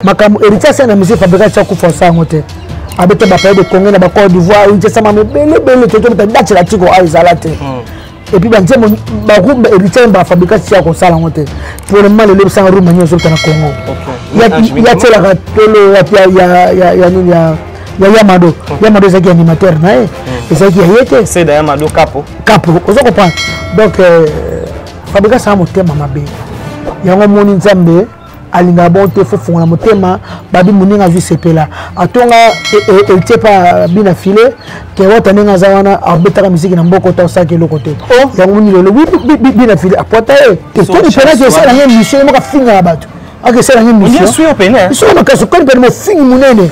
makambo héritier asala na musée fabrika ti akufa asala yango te abeta bapaye de congo na bacor d'ivoire héritier asama mebele ebele totobeta date na tiko ayo ezala te hmm. epuis banzembo barumba héritier yemba fabrika ti ya kosala yango te pour le moment lelo ebisanga rumba nini ozobeta na congo yatielaka tolo ya nini ya ya yamado yamado ezalaki animateur na ye hmm. ezalaki ya ye te seda yamado kapo kapo oza comprendre donc euh, fabrika asala motema mabe yango omoni nzambe alinga bon te faut fongola motema babi moninga azwi sepela atonga eltie e, pa bina file ke wata ndenge aza wana abetaka miziki na mboko ta osalaki eloko te oh. yango moni lelo bina file apwata ye te toni penaki esala ye mission ye moko afingaka bato akesala ye missionsoki makasi okani pene mofingi monene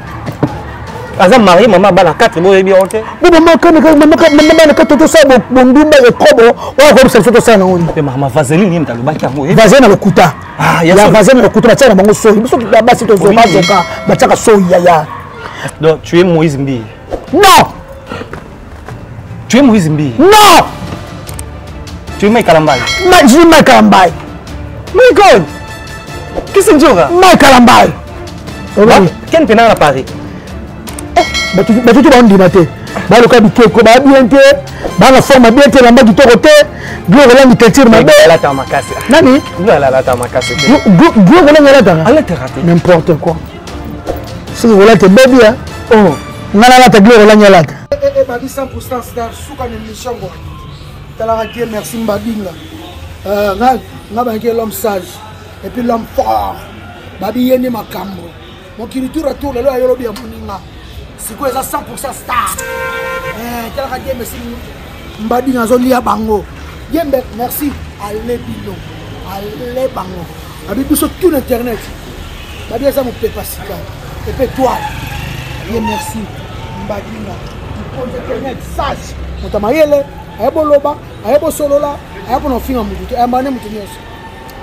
aza marie mama abala 4 boyebi yango te bo mama bana 4 tosala bondumba ya kobo oyo akoyebisa biso tosala nango nini mama vaseline nini talobaki yango eh? vaseline na lokuta ah, ya vaseline na lokuta batiaka na bango soyi biso basi tozokazoka batiaka soyi yaya donc tu es moïse mbiye non Tu es Moïse Mbiye Non Tu es Mike Kalambaye Ma, Je suis Mike Kalambaye Mike oyo Kisinjora Mike Kalambaye Ken Penanga na Paris batutu bandima te baloka bikeko baya bien te bana forme bien te elamba kitoko te gloire olangi teinture mabe nani gloire olangi alataka n'importe quoi soki kolata ebebi ya oh. ngai nalata glore olani alata ebadi 100 star suka na émission ngo talaka te merci mbadinga euh, ngai bayaki l'homme sage et puis l'homme fort babi ye nde makambo mokili tour atour lelo ayo lobi ya moninga sikoyo eza 100 star eh, talaka te merci mbadinga azolia bango yembe merci ale bino ale bango abi biso tout na internet babi aza mopepa sika epe toile ye merci mbadinga mokonzi internet sage moto mayele aye boloba aye bosolola aye mpona kofinga motu te ayambaka nde moto nyonso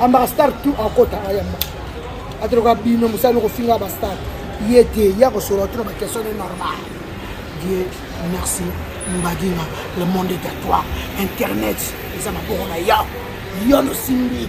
ambaka star tout akota ayamba atoloka bino mosali kofinga bastar ye te ya kosolola tuna baquestion ne normal die merci mbadinga le monde est à toi internet eza maboko na yo yo nosimbi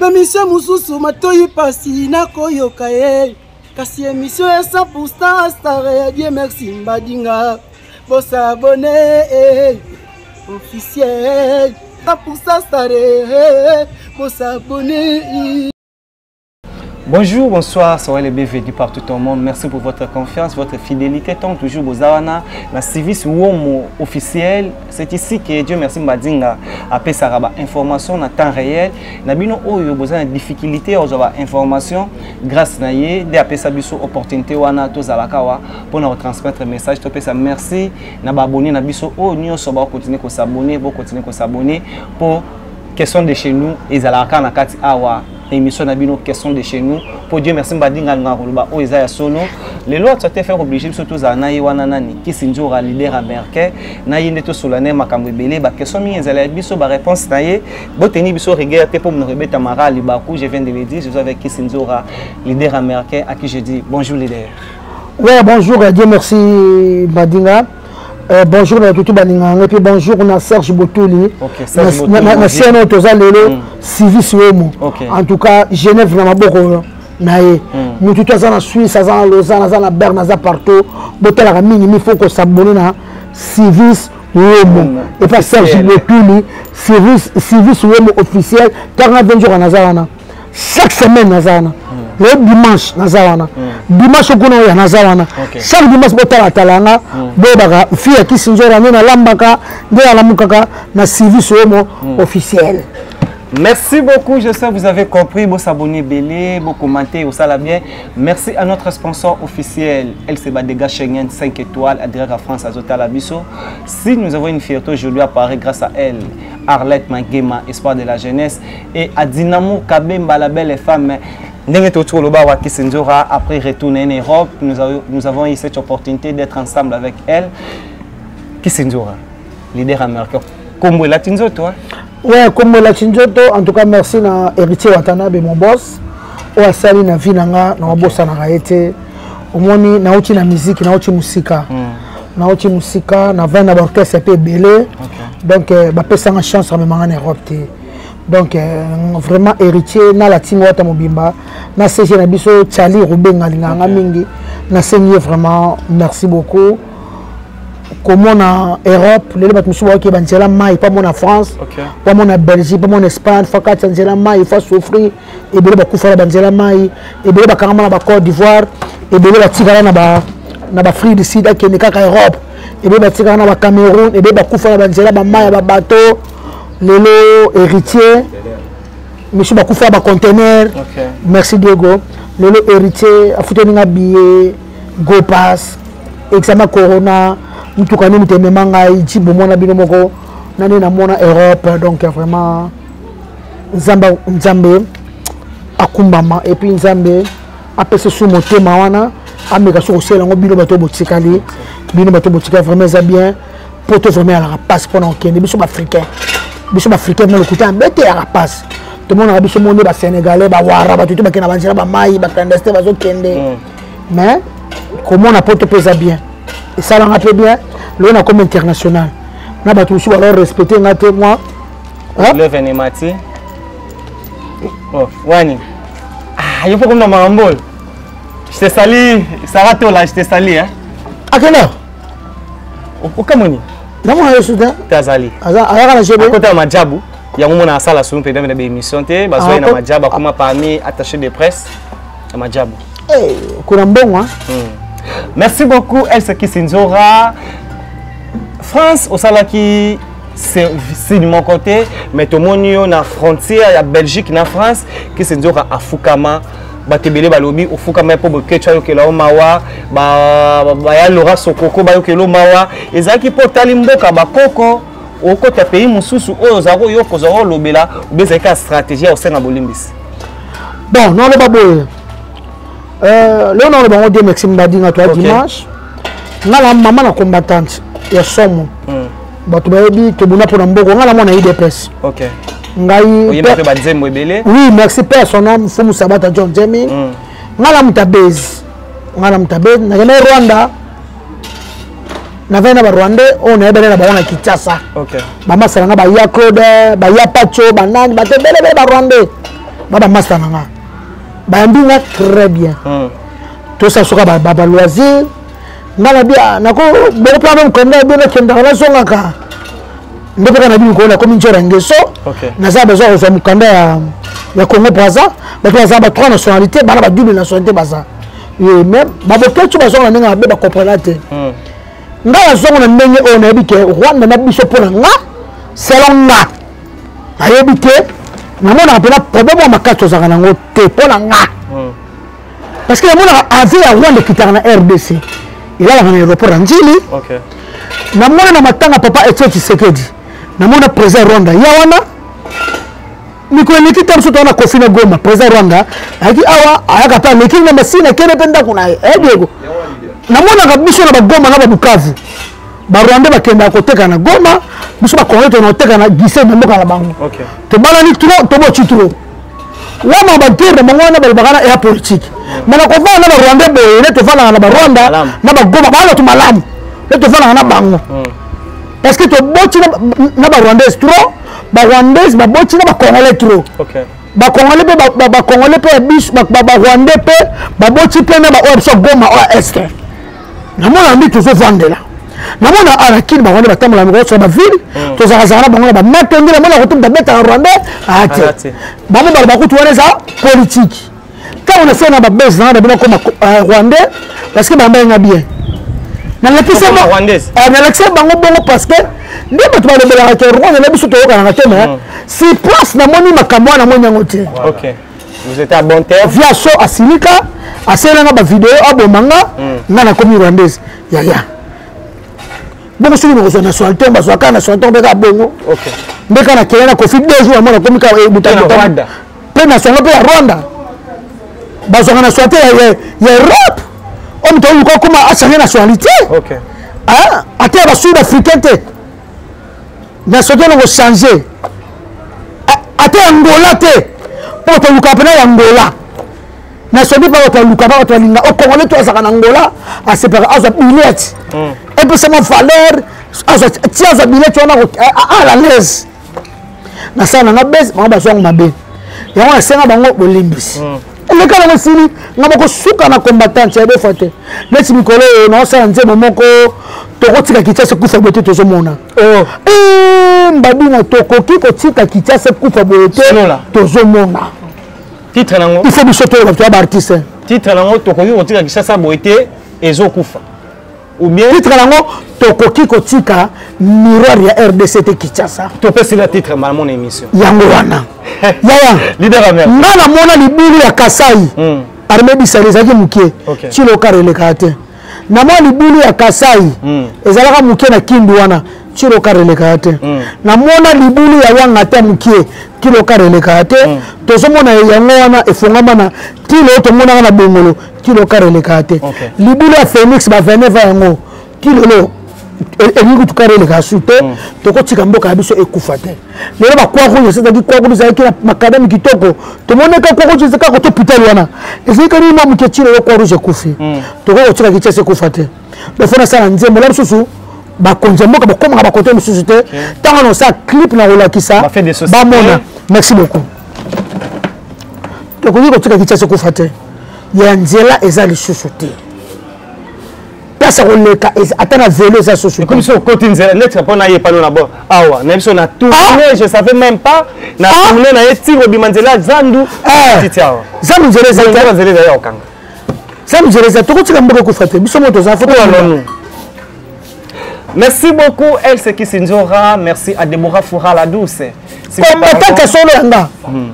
bemisio mosusu matoyi pasi nakoyoka ye kasi emisio ya 100 pour star star ya die merci mbadinga bosabone eh, officiel 100 pour star star eh, eh, bosabone Bonjour, bonsoir, soyez les bienvenus partout au monde. Merci pour votre confiance, votre fidélité. Tant toujours Bozawana, la service Womo officiel C'est ici que Dieu merci Mbadinga apesaka ba information na temps réel na bino oyo boza na difficulté ya kozwa ba information grâce na ye nde apesa biso opportunité wana tozalaka wa mpo na kotransmettre message topesa merci na baabonne na biso oyo nyonso bakokontinue kosabone bokontinue kosabone mpo question de chez nous ezalaka kaka na kati awa na émission na bino question de chez nous mpo dieu merci mbadinga alingaka koloba oyo eza ya solo lelo atu ate faire oblige biso tozala na ye wana nani kisindjora leader américain na ye nde tosola na ye makambo ebele baquestion mingi ezala ya biso baréponse na ye boteni biso rigueur te mpo monoko ebeta mara libaku je viens de le dire je suis avec kisindjora leader américain à qui je dis bonjour leader ouais bonjour dieu merci mbadinga Euh, bonjour na tutu baninga yango mpe bonjour na serge botuli na siana oyo toza lelo mm. civis womo en tout cas genève na maboko na ye mm. motu to aza na suisse aza na lausanne aza na berne aza partout botalaka mingi mi faut kosabone na civis womo mm. epa serge botuli civis womo officiel 40 jours anaza wana chaque semaine naza wana hmm. le dimanche naza wana hmm. dimanche okuna oya naza wana chaque dimanche botalatala yanga hmm. boyebaka fi ya kisinzora nde nalambaka nde nalamukaka na service oyo mo officiel Merci beaucoup, je sais que vous avez compris. Vous s'abonnez, belé, vous commentez, vous salez bien. Merci à notre sponsor officiel, LCBA Dega Schengen 5 étoiles, Adrera France, Azota Labisso. Si nous avons une fierté aujourd'hui à Paris grâce à elle, Arlette Magema, espoir de la jeunesse, et à Dynamo Kabemba la belle femme ndenge toyoti koloba awa kisindjora après retour na ye na europe nous, a, nous avons eu cette opportunité d'être ensemble avec elle kisindjora leader américain kombo elati nzoto ouais kombo elati nzoto en tout cas merci na héritier watanabe mon boss oyo asali na vie na nga na obosanaka ye te omoni nauti na miziki nauti mosika mm. nauti mosika na vin na baorchestre mpe ebele donc eh, bapesanga chance amemanga na europe te donc eh, vraiment héritier na latino wata mobimba na cg na biso charli rubenga alinganga mingi nasengi ye vraiment merci beaucoup komona europe lelo bato mosusu baoki banzela mai mpo amona france mpo amona belgique mpo amona espagne fo akati ya nzela mai fo asouffrir ebele bakufa na banzela mai ebele bakangama na bacôte d'ivoire ebele batikala na bafrique du sud akende kaka europe ebele batikala na bacameroun ebele bakufa na banzela bamai ya babateau lelo héritier misu bakufa na bacontenaire merci diego lelo héritier afuteli nga billet gopas examen corona motuka nini temema ngai jibo mwana bino moko nani namona europe donc vraiment nzambe nzambe akumbama epuis nzambe apesa su motema wana ameka soki osala yango bino bato botikali bino bato botikali vraiment eza bien poto vraiment alaka mpasi mpona kokende biso baafricain biso baafricain na lokuta bete yaka mpasi tomonaka biso moni basénégalais bawara bato te bakenda banzela bamai baclandestin bazokende mm. mais komona poto mpe eza bien esalanga mpe bien lelo nakomi international na bato mosusu balao respecte nga te moi Hein? Leve ni mati. Oh, wani. Ah, yupo comme dans ma rambole. Je te salue, Sarah Tola, je te salue. Hein? À quelle heure Au Cameroun. Namona yo soudain. Tazali. Aza ayaka na jebe. Akota majabu. yango mona asala solo mpe dame na baémission te bazwa ye na majabu akoma parmi attaché de presse ya majabu kuna mbongo merci beaucoup elsa kisinzora france osalaki sini moko te mais tomoni yo na frontière ya belgique na france kisi nzoka afukama bato ebele balobi ofukama mpo boketwa ayokela yo mawa baya lora sokoko bayokela yo mawa ezalaki mpo otali mboka bakoko okota pays mosusu oyo ozala koyoka ozala kolobela obe ezalaki ya stratégie ya kosenga bolimbisi bon naloba boye euh, leo naloba yango demexi mbadinga to ya dimanche nga na mama na combattante ya somo mm. bato bayebi tobuna mpo na mboko nga na mwana idps okay. ngai banzembo ebele oui merci père son nom fumu sabata john jemi mm. nga na moto abezi nga na moto abezi nakendaki rwanda nazali na barwandais oyo nayebele na bango na kinshasa bamasta na nga baya claude baya pacho banani bato ebelebele barwandais ba bamasta na nga bayambi nga très bien mm. tosala soka baloisir nga na bia nako bokopa na mokanda bino kendaka nazongaka nde mpe kaka na bino koona komi njora ngeso naza besoin ya kozwa mokanda ya congo braza bato baza ba trois nationalité bana ba double nationalité baza ye mais baboketso bazonga na ndenge mabe bakomprena te hmm. ngai nazongo na ndenge oyo nayebi ke rwanda na biso mpo na nga selon nga nayebi te namonaka mpena problème ya makasi tozalaka nango te mpo na nga parce que namonaka avion ya rwanda ekitaka na rdc elalaka na aéroport ya njili namona na matanga papa etio tshisekedi namona président rwanda ya wana mikolo eleki ta mosusu wana kofi na goma président rwanda ayaki awa ayaka mpe ameki na masini akende mpe ndako na ye eh, diego namonaka biso na bagoma na babukavu barwande bakendaka koteka na goma biso bakongole tona koteka na gise na mboka na bango tobalani tro toboci tro wana baguerre na bango wana balobaka na ya politike me na kovanda na barwandais boye ne tofandaka na barwanda na bagoma baa bato malamu ne tofandaka na bango hmm. parce que toboti na barwandais trop barwandais baboti na bacongolais trop bacongolais mpe bacongolais mpe ya biso barwandais mpe baboti mpe na baoyo biso goma oyo este namona mbi tozovandela namona arakini bango nde batambola mikolo soki bavile mm. tozalazala na bango na bamato nde namona kutu babetaka rwandais ate ah, ah, bango bala bakutu wana eza politike ntango nasala na babese nanga na bino akoma euh, rwandais parce que bamba yenga bien nalakisa ah, bango bongo parce que nde bato balobelaka te rwanda na biso toyokanaka te mais mm. si place namoni makambo wana namoni yango te vous êtes à bon terme via so asilika asalela nga bavideo aboma nga hmm. nga nakomi rwandaise yaya bongo soki nakozwa na sointon bazwa kaka na sointon mpe kaka bongo nde kaka nakele na kofi deux jours yango nakomi kaka ebutabuta eh, mpe na songo mpe ya rwanda bazwaka na sointe ya europe oyo moto oluka okoma asange na soinité ata ya basud africain te na soki eloko change ata ya ngola te mpo bato baluka mpena ya ngola na soki mpa bato baluka mpa bato balinga okongole oh, to azalaka na ngola asepaka azwa billet hmm. epesama valeur ti azwa billet wana ala laise nasala nanga bese bango bazwango mabe yango nasenga bango bolimbisi hmm. leka nango esili nga bakosuka na combattant ya defa te neti mikolo oyo naosala nzembo moko tokotika kinshasa ekufa boye te tozomona oh. eh, mbabina tokoki kotika kinshasa ekufa boye te tozomona titre nango il faut biso toyeba bato ya baartiste titre nango tokoki kotika kinshasa boye te ezokufa ou bien titre nango tokoki kotika miroir ya rdc te kinshasa topesila titre mbala mona émission yango wana yaya nga namona libulu ya kasai mm. arme bisali ezalaki moke okay. cilokara elekaka te namona libulu ya kasai mm. ezalaka moke na kindu wana cilokara elekaka te mm. namona libulu ya wanga te moke kilokara elekaka te mm. tozomona yango wana efongama na tilo tomonaka na bongolo kilo kare elekaka te libula ya phoenix ba 29 yango kilolo elingi kutu kare elekaka su te mm. tokotika mboka ya biso ekufa te lelo bakwa rouge esezaki kwa rouge ezalaki na makadami kitoko tomoneka kwa rouge ezaka koto pitali wana ezalaki kani mwa moke ti lelo kwa rouge ekufi mm. tokoki kotika kichasi ekufa te dofo nasala nzembo la mosusu bakonzi ya mboka bakomaka bakote mosusu te ntango na osala clip na kolakisa bamona merci beaucoup tokoki kotika kichasi ekufa te ya nzela eza lisusu te place ya koleka ata na velo eza sosukomi so okoti nzela neti mpo na ye pano na bo awa na biso na tourne ah! je savais même pas na ah! tourne na ye ti kobima nzela ya zandu eh! titi awa zandu nzela eza nzela nzela eza ya kokanga zandu nzela eza tokotika mboka ekufa te biso moto oza foto alonu Merci beaucoup, El Sekisindjora. Merci à Deborah Foura la douce. komataka solo ya nga hmm.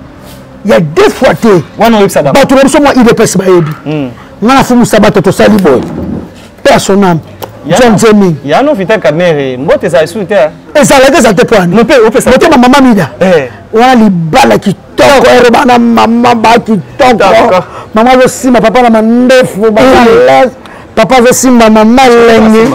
ya deux fois te bato na biso mwa idps bayebi hmm. nga na fumu sabato tosali boye personname john zeming yano vita kamere mbote ezala lisusu te ezalaki eza te poanimotema mama mida eh. wana libala kitoko eroba na mama ba kitoko mama azosima papa na mandefu hmm. baales papa azosimba mama elengi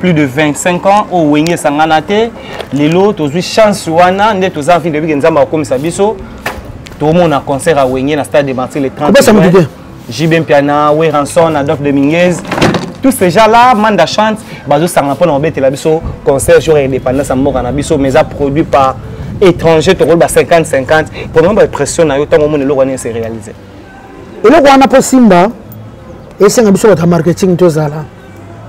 plus de 25 ans oyo oh, wenge esangana te lelo tozwi chance wana nde toza envie de bike nzambe akokomisa biso tomona concert ya wenge na stade de martyr le 30 jb mpiana weranson adolphe dominguez tous ces gens là manda chante bazosangana mpo na kobetela biso concert jour ya indépendance ya mboka na biso mais eza produit par étranger tokoloba 50 50 pona bapression na yo ntango omona eloko wana ese réalise eloko wana mpo simba esenga biso bato ya marketing tozala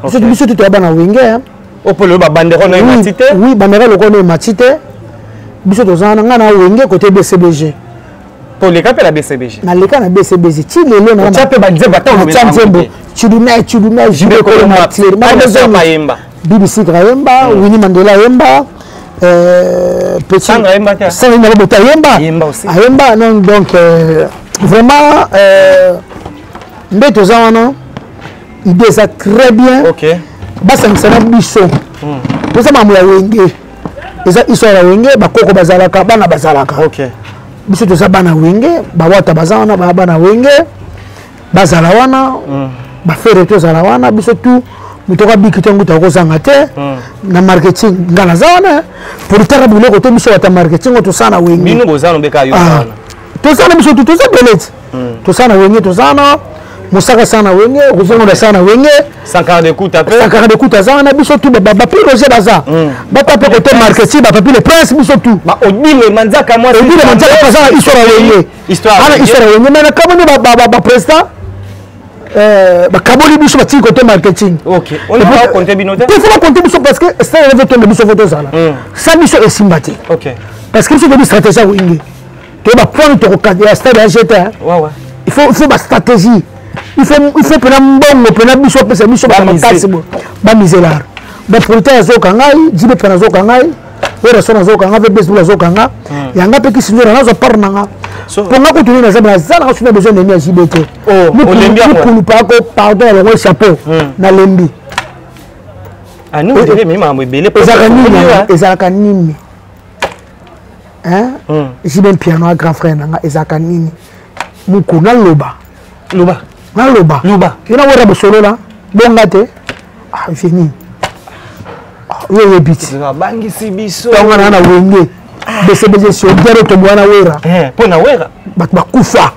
biso okay. biso tutoya bana wenge hein. opolo babandero na emati te oui bandero lokola na emati te biso toza na ngai na wenge kote bcbg toleka mpe na bcbg naleka na bcbg ti lelo naotya mpe banzembo ataotya nzembo chudumai chudumai jibekolo matiere mayemba bbc kayemba hmm. wini mandela ayemba euh, petitsangaimbaboto ayemba ayemba donc euh, vraiment euh, nde toza wana ide eza très bien okay. basangisa na biso hmm. toza mm. makambo ya wenge eza histoire ya wenge bakoko bazalaka bana bazalaka okay. biso toza bana wenge bawata baza wana baa bana wenge bazala wana mm. bafere tozala wana biso tu moto akabiki te nguta okozanga te mm. na marketing nga naza wana politiaka biloko te biso bata marketing oyo tosala na wenge bino boza nobeka yo ah. wana tosala na biso tu toza belete hmm. tosala na wenge toza na mosaka sana wenge kozongola sana wenge sankara de kuta pe sankara de kuta zana biso tout ba ba piroger baza hmm. ba tape côté marketing ba papi le prince biso tout ba odile manzaka moi odile manzaka baza na histoire wenge histoire ana histoire wenge mais na kamoni ba ba ba président euh, bakaboli biso batiki kote marketing tefo bakonte biso parce que stade evetonde biso fo tozala hmm. sa biso esimba te parce que biso toyebi stratégie ya wenge to ba point to ko ya stade ya jeta hein. ouais ouais il faut il faut ba stratégie il faut il faut pena mbongo pena biso pesa biso ba makasi bo ba miselar ba producteur zo kangai jibe pena zo kangai ora sona zo kangai bes bula zo kanga hmm. yanga pe kisinyo na zo par nanga po nga kutu na zaba zala ka suna besoin de mia jibe te oh olembi ko kulu pa ko pardon ya ngo chapeau hmm. na lembi ah nous devons même embele ezaka nini ezaka nini hmm. jibe mpiano ya grand frère na nga ezalaka nini muku naloba loba naloba loba yo na wera bosolola bonga te ah, vie nini ah, yo oyebi ti abangisi biso ntango na na wenge ah. besebese sodiaro tombo wana wera eh, mpo na wera bato bakufa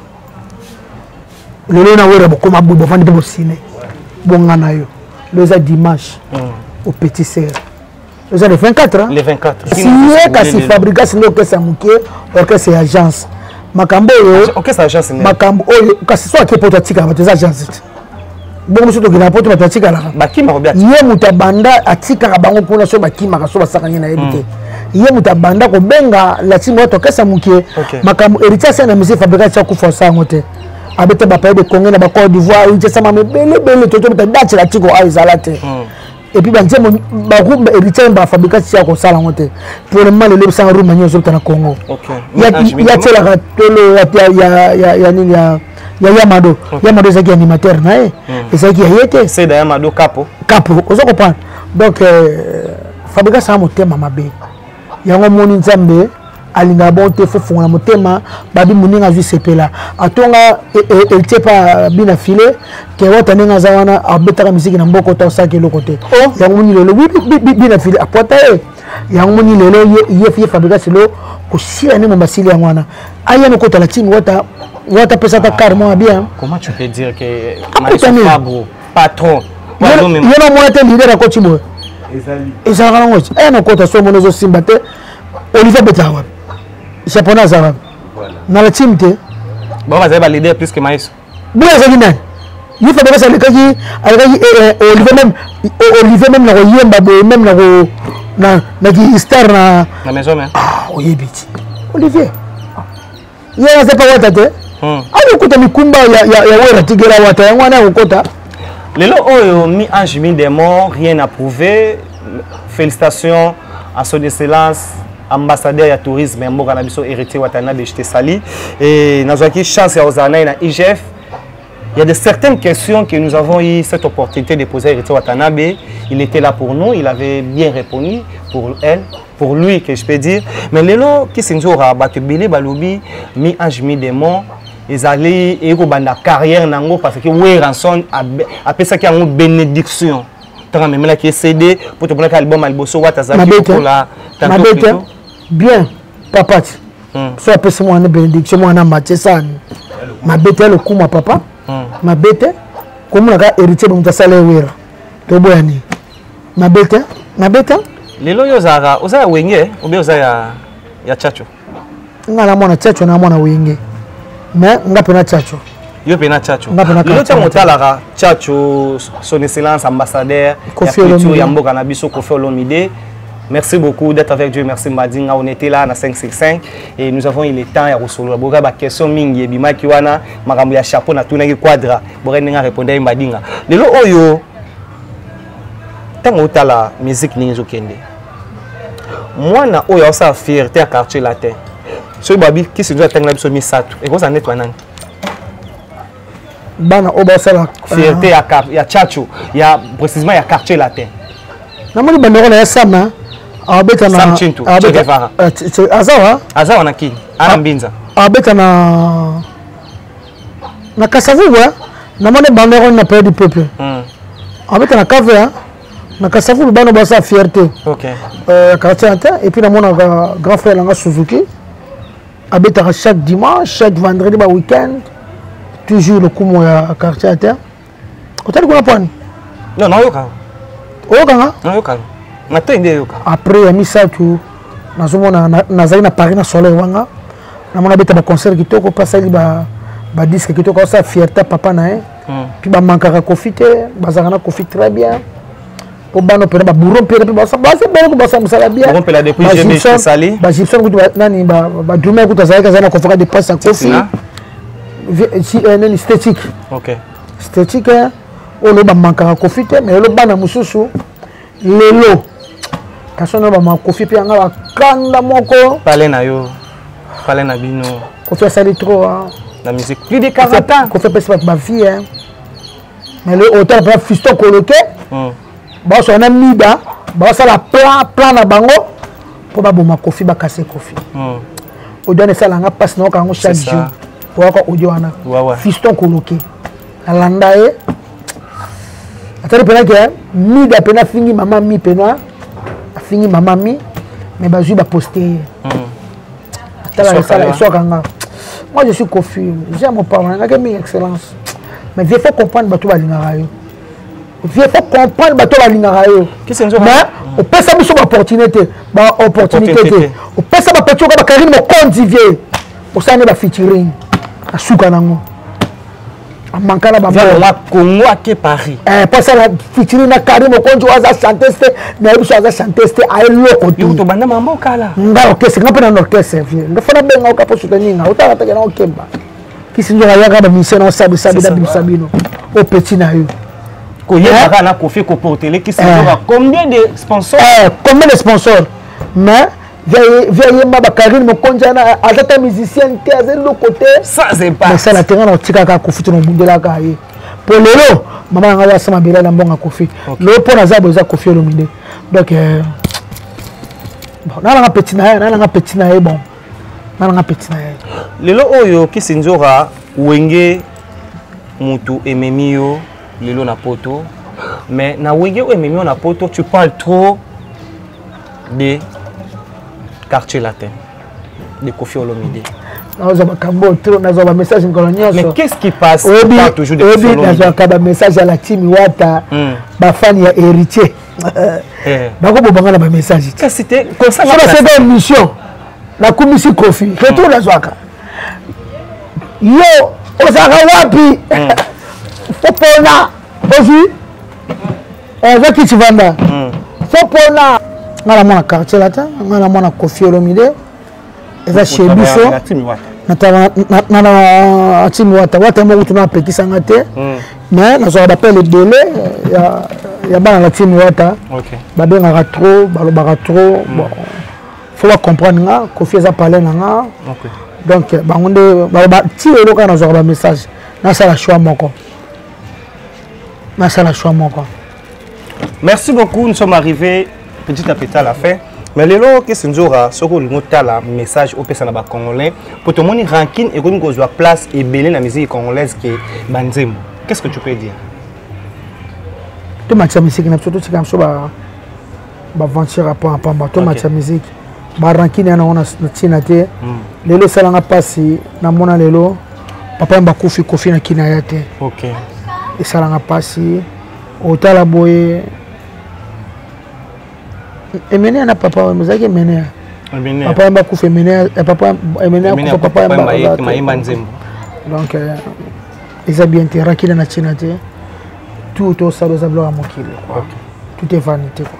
lelo na wera bokoma boye bofandi mpe bosine bonga na yo lelo eza dimanche hmm. au petit serre eza le 24 le 24 siye kasi fabrigas nde okesa moke orchestre ya agence makambo oyo makambo oyo kasi so ake poto atikala bato eza agence te bongo so tokenda poto bato atikalaka ye moto abanda atikaka bango mpona so bakimaka so basakani na yebi te hmm. ye moto abanda kobenga latimo wato akesa moke makambo héritier asali na musée fabrigas ti akufa osa yango te abeta bapaye de congo na bacode d'ivoire héritier asamama ebele ebele totobeta date latiko ayo ezala te hmm. et puis banzembo barumba héritier ba fabrika ti ya kosala yango te pour le moment lelo bisanga rumba nyonso ozobeta na congo ya tielaka tolo ya nini ya ya yamado yamado ezalaki animateur na ye hmm. ezalaki ya ye te seda yamado kapo kapo oza comprendre donc euh, fabrika sanga motema mabe yango omoni nzambe alingaka bon te fofongola motema babi moninga azwi sepela atonga eltie e, e, pa bina file ke wata ndenge aza wana abetaka miziki na mboko to asalaki eloko te oh. yango moni lelo bina file apwata ye yango moni lelo ye fabrigas lo kosila nde mombasili yango wana aya nokotala timi wata wata apesa ata kar mwa bien akutani patron yo na mwana te lider akoti boye ezalaka nango ti aya nakota so mona ezosimba te olivier abetaka wapi japonais aza wapi na la time te bango bazali balider plus que maiso boye azali nani ye fabregas alekaki alekaki eh, eh, olivier meme olivier meme na koyemba boye meme na ko na ki star na oyebi ti olivier ye aza pa wata te hmm. akokuta mikumba ya wera tigela wata yango wana akokota lelo oyo mi ange mi démon rien à prouver félicitations à son excellence ambassadeur ya tourisme ya mboka na biso héritier watanabe je te sali e nazwaki chance ya kozala naye na igf Il y a de certaines questions que nous avons eu cette opportunité de poser à Héritier Watanabe. Il était là pour nous, il avait bien répondu pour elle, pour lui, que je peux dire. Mais lelo, qui s'est dit, Batubili, Balubi, mi ange, mi démon, ezali ekobanda carrière na yango parce que weranson apesaki yango bénédiction ntango amemelaki ye cd mpo tomonaki album ya liboso wata azalaki lokola bien papati hmm. so apesi mwana benediction mwana matie sani mabe te ya lokuma papa hmm. mabe te komona kaka héritier bomoto asala ewera toboya nini mabe te mabe te lelo yo ozalaka oza ya wenge obe oza ya ya chacho nga na mwana chacho na mwana wenge mais nga mpe na chacho yo mpe na chacho lelo ntango otalaka chacho son excellence ambassadeur ya culture ya mboka na biso kofi olomide Merci beaucoup d'être avec Dieu. Merci Madinga. On était là à 565 et nous avons eu le temps à Rosolo. Boga ba question mingi et bima kiwana makambo ya chapeau na tuna ki quadra. Boga ninga répondre Madinga. Lelo oyo ntango otala musique ndenge ezokende mwana oyo aosala fierté ya quartier latin soki babi kisi nzo atangela biso misato ekozala neti banani bana oyo basala fierté ya, ya chacho ya précisement ya quartier latin namoni bandeko na ya sama abeta na sam chintu che guevara azawa azawa na kini ana mbinza abeta na na kasavubu hein? na moni bandeko on appelle du peuple hmm. abeta na cave hein? na kasavubu bana basa fierté okay. euh, quartier inter et puis namonaka grand frère nanga suzuki abetaka chaque dimanche chaque vendredi ba week-end toujours lokumu ya quartier inter otali kuna pwani no nayoka oyokanga nayoka matoi nde eyoka après ya misato nazomona nazali na paris na soleil wanga namona abeta baconcert kitoko mpe asali badisque kitoko asala fierté papa na ye mpe hmm. bamankaka kofi te bazalaka na kofi très bien po bana mpena baburo mpena mpe baza bana ko basala mosala bienbagyptian kutu nani badrume kutu azalaki azali na convoka de presse ya kofi nani statique statique eh, oyo lo bamankaka kofi te mais lo bana mosusu lelo kasi ono bamakofi mpe yanga bakanda moko pale na yo pale na bino kofi asali trop na musique plus de 40 ans kofi apesi bato bavie mais le auteur mpenza fisto koloke hmm. baosala na mida basala plan plan na bango mpo baboma kofi bakase kofi hmm. audio wana esala nga mpasi nayoka yango chaque jour oyaka audio wana fiston koloke nalanda ye atali mpena ke mida mpena afingi mama mi mpena afingi mama mi mais bazwi baposte ye hmm. tala esala eswaka nga moi je suis confus j'ai mon papa nangaki mingi excellence mais vieux faut comprendre bato balingaka yo vieux faut comprendre bato balingaka yo mais opesa biso baopportunité te baopportunité te opesa bapeti oka bakarine mokonzi vieux osala nde bafeaturing asuka nango amankana bamwa congo ake paris eh, mpo asala fitiri na kari mokonzi oyo aza chantes te nayebi so aza chantes te aye loko tobanda mambo kala nga orkestre nga mpe na orkestre vie nga fana benga oka mpo soutenir nga otanga take na okemba kisi nzoka yaka bamusicien na osabisabi na bimisa bino o petit na yo koyebaka eh? na kofi koportele kisi nzoka eh. combien de sponsor combien de sponsor mais via yemba ba Karine Mokonja na aza ta musicien te aza eloko te sans impact mais ça la terrain na tikaka ko futu na bundelaka ye po lelo mama nanga ya sama bela na mbonga kofi lelo po na zabo eza kofi olomide donc euh, bon na nanga petit na ye na nanga petit na ye bon na nanga petit na ye lelo oyo kisinzora wenge mutu ememi yo lelo na poto mais na wenge oyo ememi yo na poto tu parles trop de quartier latin de Kofi Olomide. nazwa makambo tro nazwa bamessage mikolo nyonsoyebinazwaka bamessage ya latimi wata hmm. bafani ya héritier eh. bakoboma nga na bamessage baseka émission nakumisi kofi hmm. retour nazwaka yo ozalaka wapi hmm. opona ozwi oza kiti vanda fo mpona nga na mwana quartier lata nga na mwana kofi olomide eza chez biso na timi wata wata moko tuna apekisa nga te mais nazwaka bapele ebele ya bana na timi wata babengaka trop balobaka trop fo bacomprendre nga kofi eza palais na nga donc bango nde baloba ti lelo kaka nazwaka bamessage nasala choix moko nasala choix moko merci beaucoup nous sommes arrivés petit à petit à la fin mais lelo kesi nzora soki olingi otala message opesa na bacongolais mpo tomoni rankine ekomi kozwa place ebele na musique congolaise ke banzembo qu'est ce que tu peux dire tomatisa misiki na biso totika biso baventure ya pamba pamba to match ya miziki barankine yana ngo na ntina te hmm. lelo esalanga mpasi namona lelo papa yamba kufi kofi na kina ya te esalanga mpasi otala boye emenea na papa oyo mozalaki emenea papa yamba kufi emenea eh, papa emenea kufa papa yamba donc euh, eza bien te rakina na ntina te tout to sala eza biloko ya mokili quoi tout est vanité quoi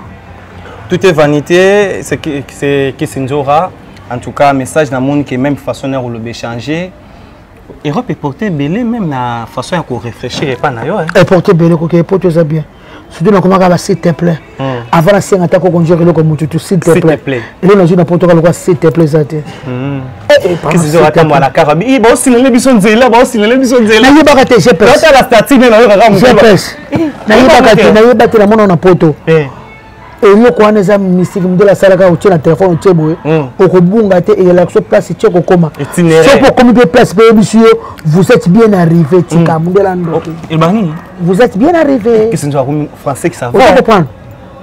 tout est vanité c'est c'est Kissinjora en tout cas message na monde qui même façon na koloba changer Europe eporte ebele même na façon ya korefléchir epai na yo eporte ebele koke epoto eza bien surtout nakomaka basite plein Hmm. avant nasenga ata kokonjaka eloko motu tu s'il te plaît eloko nazwi na potoka lokola s'il te plaît eza te hmm. eh, eh, atambwala kaka baosilele biso nzela baosilele biso nzela nayebaka te gpsotala statine nayokaka gps nayebaka te nayeba te namona na poto eh. eloko wana eza mystique modele asalaka otie na telefone otie boye hmm. okobunga te eyelaka biso place tie kokoma soki okomi mpe place mpe yebisi yo vous êtes bien arrivé tika modele andoki vous êtes bien arrivé kisi nzoka komi français kisa va comprendre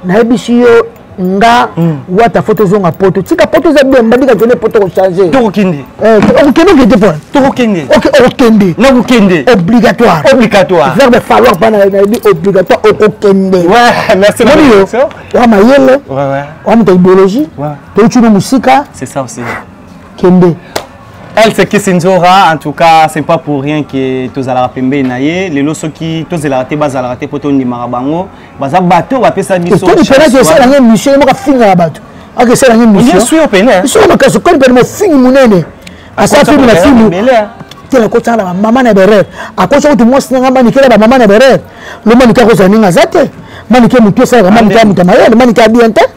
nayebisi yo nga hmm. wata fo tozonga poto tika poto eza bien mbandika kende poto kochange tokokende eh, okokende okende mpo tokokende okokende nakokende obligatoire obligatoire verbe falloir bana nayebi obligatoire okokende moni yo oa mayele oa moto ya idéologie toyuti no mosika c'est ça aussi kende elle c'est Kissinzora en tout cas c'est pas pour rien que tozalaka pembeni na ye lelo soki tozelaka te bazalaka te mpo tondimaka bango baza bato oyo bapesa bisokomipenaki esala nge mission ye moko afingaka bato aka esala nge missionsoki makasi koni pene mofingi monene asala filme na filme te nakotaka na bamama na berere akosa kutu mwasi na ngai manike na bamama na berere lo manike akozala ndenge aza te manike motu esalaka manike ya moto ya mayele manike ya bien te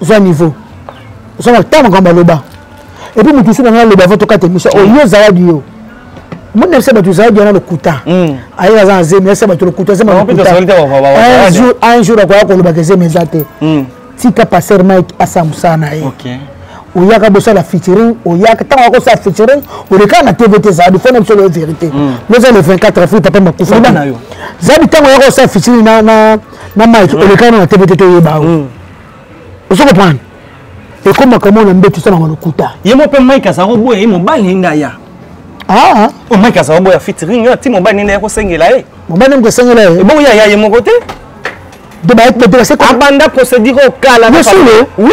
zwa niveau oza na ntango makambo aloba epuis moto mosusu nanga aloba ava tokata émission oyo yo zaladi yo moni nayebisa bato zaladi wana lokuta hmm. ayeka aza na zemi nayebisa bato lokuta zemi un jour akoya kolobaka ezemi eza te hmm. tika passer mike asala mosala na ye oyaka bosala featuring oyaka ntango yaka osala featuring olekaka na tv te zaladi fona biso loyo vérité hmm. loza le 24 avril papa makufa zaladi ntango yaka osala featuring na na mike olekana na matebe te toyeba yango hmm. ozo comprendre ekomaka mo na mbetu esalaka lokuta ye mo mpe mike azala koboya ye mobali nde aya o ah. oh, mike azala koboya fitring yo ti mobali nde yakosengela ye mobali nde mokosengela ye ebongo eh, yaya ye moko te abanda procédure okala oui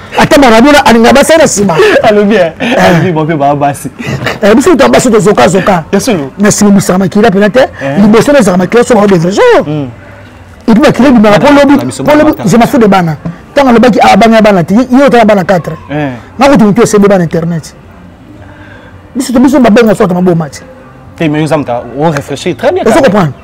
ata maradona alingaka basi na nsima alobi eh, eh. bape baa basi eh, biso to basi tozokazoka na nsima mosaka makila mpena te liboso nazaka makila so baodevre so mm. epuis makila ebimaka mpo lobi mpo lobi je mafu de bana ntango alobaki ah, abanga ya bana te ye otala bana 4 nakutu motu esembe bana internet biso to biso babenga so ata maboma te te mais oza moto orefléchir très bien ozo comprendre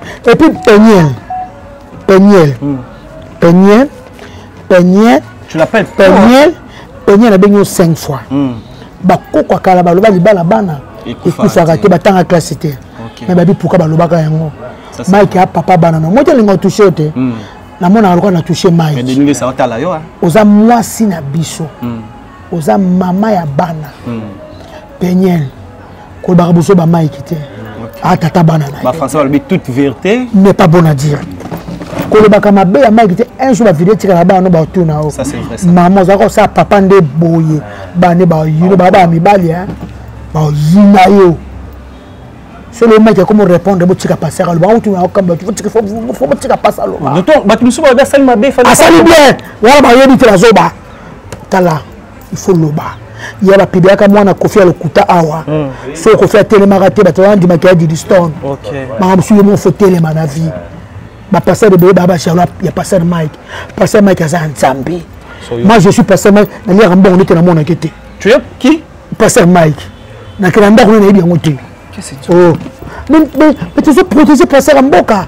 et puis peniel peniel hmm. peniel peniel tu l'appelles peniel peniel abengi yo 5 fois hmm. bakoko kala baloba libala bana ekufaka te batanga classe te me babi puka balobaka yango mike a papa bana no moti alinga otouche yo te hmm. namonaka lokola na touche mike oza mwasi na biso oza mama ya bana hmm. peniel kolobaka bozo bamaiki te atata ah, bana naye toute vérité n'est pas bon à dire kolobaka mabe ya maiki te un jour bavideo etikala bana no batuna yo mama ozalaka osala papa nde boye bana nde bayino baa baa mibali bayina yo solo mike akomi répondre botika pasi akaloba autuna okamba fo botika pasi aloba bato mosusu baoda asali mabe asali bien wana bayebi te bazoba tala il faut loba ya bapibelaka mwana kofi ya lokuta awa mm. so kofi atelemaka te bato bandimaka ya didistone makambo mosusu yo moko fo telema na vie bapasteur ebele baa bajalo ya pasteur mike pasteur mike aza ya nzambe moi je suis pasteur mike naliaka mbongo ndete namonake te pasteur mike nakela ndako nde nayebi yango te oh. mais tozo protege pasteur ya mboka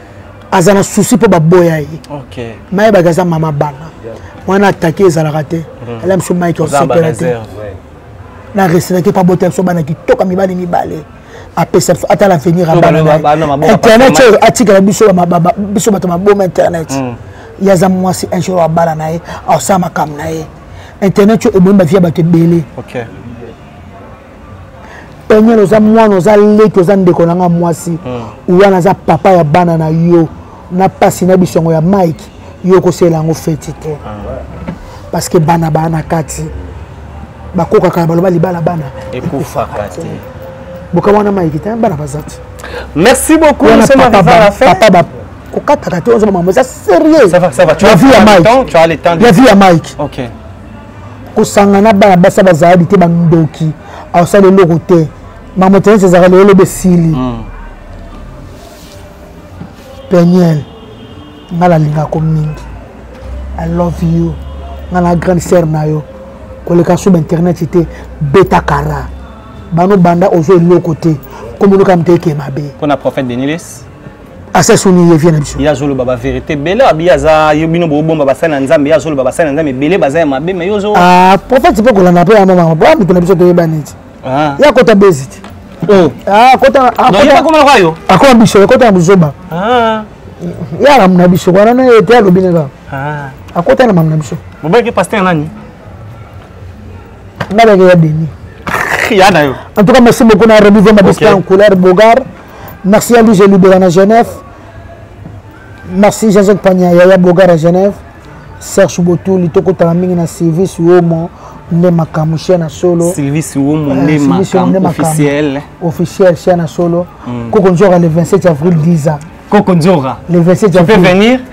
aza na souci mpo baboya ye okay. mayebaki aza mama bana wana atake ezalaka te mhm. ala biso mike osepela te na resenaki mpo abota biso bana kitoka mibali mibale apesa biso ata l'avenir ya banainternet oyo atikela biso biso bato maboma internet mm. ye aza mwasi un jour abala na ye asala makambo na ye internet oyo ebomi bavia bato ebele peniel oza mwana oza leki oza ndeko na nga mwasi hmm. wana aza papa ya bana na yo na mpasi na biso yango ya mike yo okosela yango feti te ah, parce que bana baa na kati bakokaka na baloba libala bana ekufaka te bokama wana mike te bana baza te merci beaucoup papa kokataka te ozoba mambo eza sérieux la vie ya mike kosanga na bana basi bazaladi te bandoki asala eloko te mamotenesi ezalaka lelo loba esili hmm. peniel ngai nalingako mingi i love you ngai na grande sere na yo koleka sub internet te beta kara bano banda ozo eloko te komonoka moto eke mabe mpona prophète denilis asa soni ye vie na biso ye azoloba ba vérité bele abi aza yo bino bobomba basali na nzambe ye azoloba basali na nzambe ebele baza ya mabe me yozo ah, prophète mpe kolanda mpe yama mama boya moto na biso toyeba neti ah. ye akota bezi te oh. ah, akota biso ekota na buzoba ye alamu na biso wana na ye te alobi na kaka akota na mamu na biso bobaki paster nani nabaki ya deni ya na yo en tout cas merci beaucoup na remise ma bista en couleur bogar Merci Andy Gelubela na Genève. Merci Jean-Jacques Pagna Yaya Boga na Genève. Serge Botuli tokotala mingi na Sylvie Suomo nde makambo chien na solo. Sylvie Suomo euh, nde makambo officiel. Officiel chien na solo. Mm. Koko Nzora le 27 avril 10 ans. Koko Nzora. Le 27 avril. Tu peux venir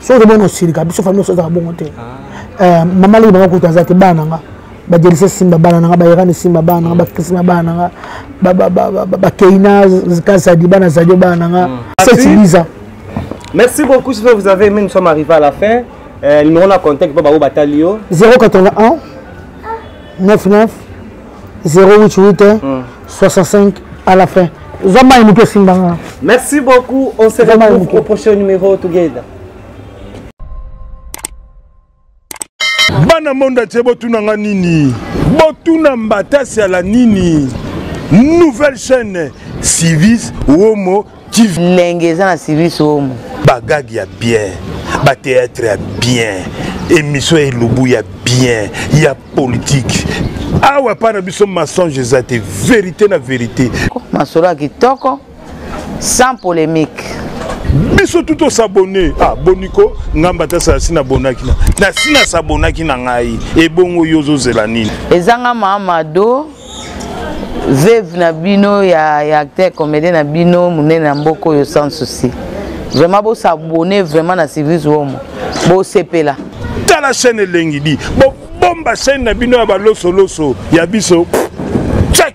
soki ozomona osilika biso famille oso azaka bongo te ah. eh, mama leki banga kutu aza te bana na nga bajelise simba bana na nga bayerani simba bana na nga bakrisma bana na nga bakeina kasadi bana zadio bana na nga setibiza merci beaucoup si vous avez aimé nous sommes arrivés à la fin euh, numéro na contact mpo bango batali yo 081 99 088 hein? 65 à la fin zwa mai moke esimba nga merci beaucoup on se retrouve au prochain numéro together bana monde atie botuna nga nini botuna mbatasi ala nini nouvelle chaîne civis womo lenge eza na service omo bagage ya bien bateatre ya bien émission ya elubu ya bien ya politique awa epai na biso mensonge eza te verité na verité masolo ya kitoko sans polémique biso tu tosabone ah, boniko ngamba tasala si nabonaki na si nasabonaki na ngai ebongo yo ozozela nini ezanga mamado veuve na bino ya, ya acteur comédien na bino monene na mboka oyo sans souci vraiment bosabone vraiment na service womo bosepela tala chaîne elengi di bobomba chaîne na bino ya balosoloso ya biso check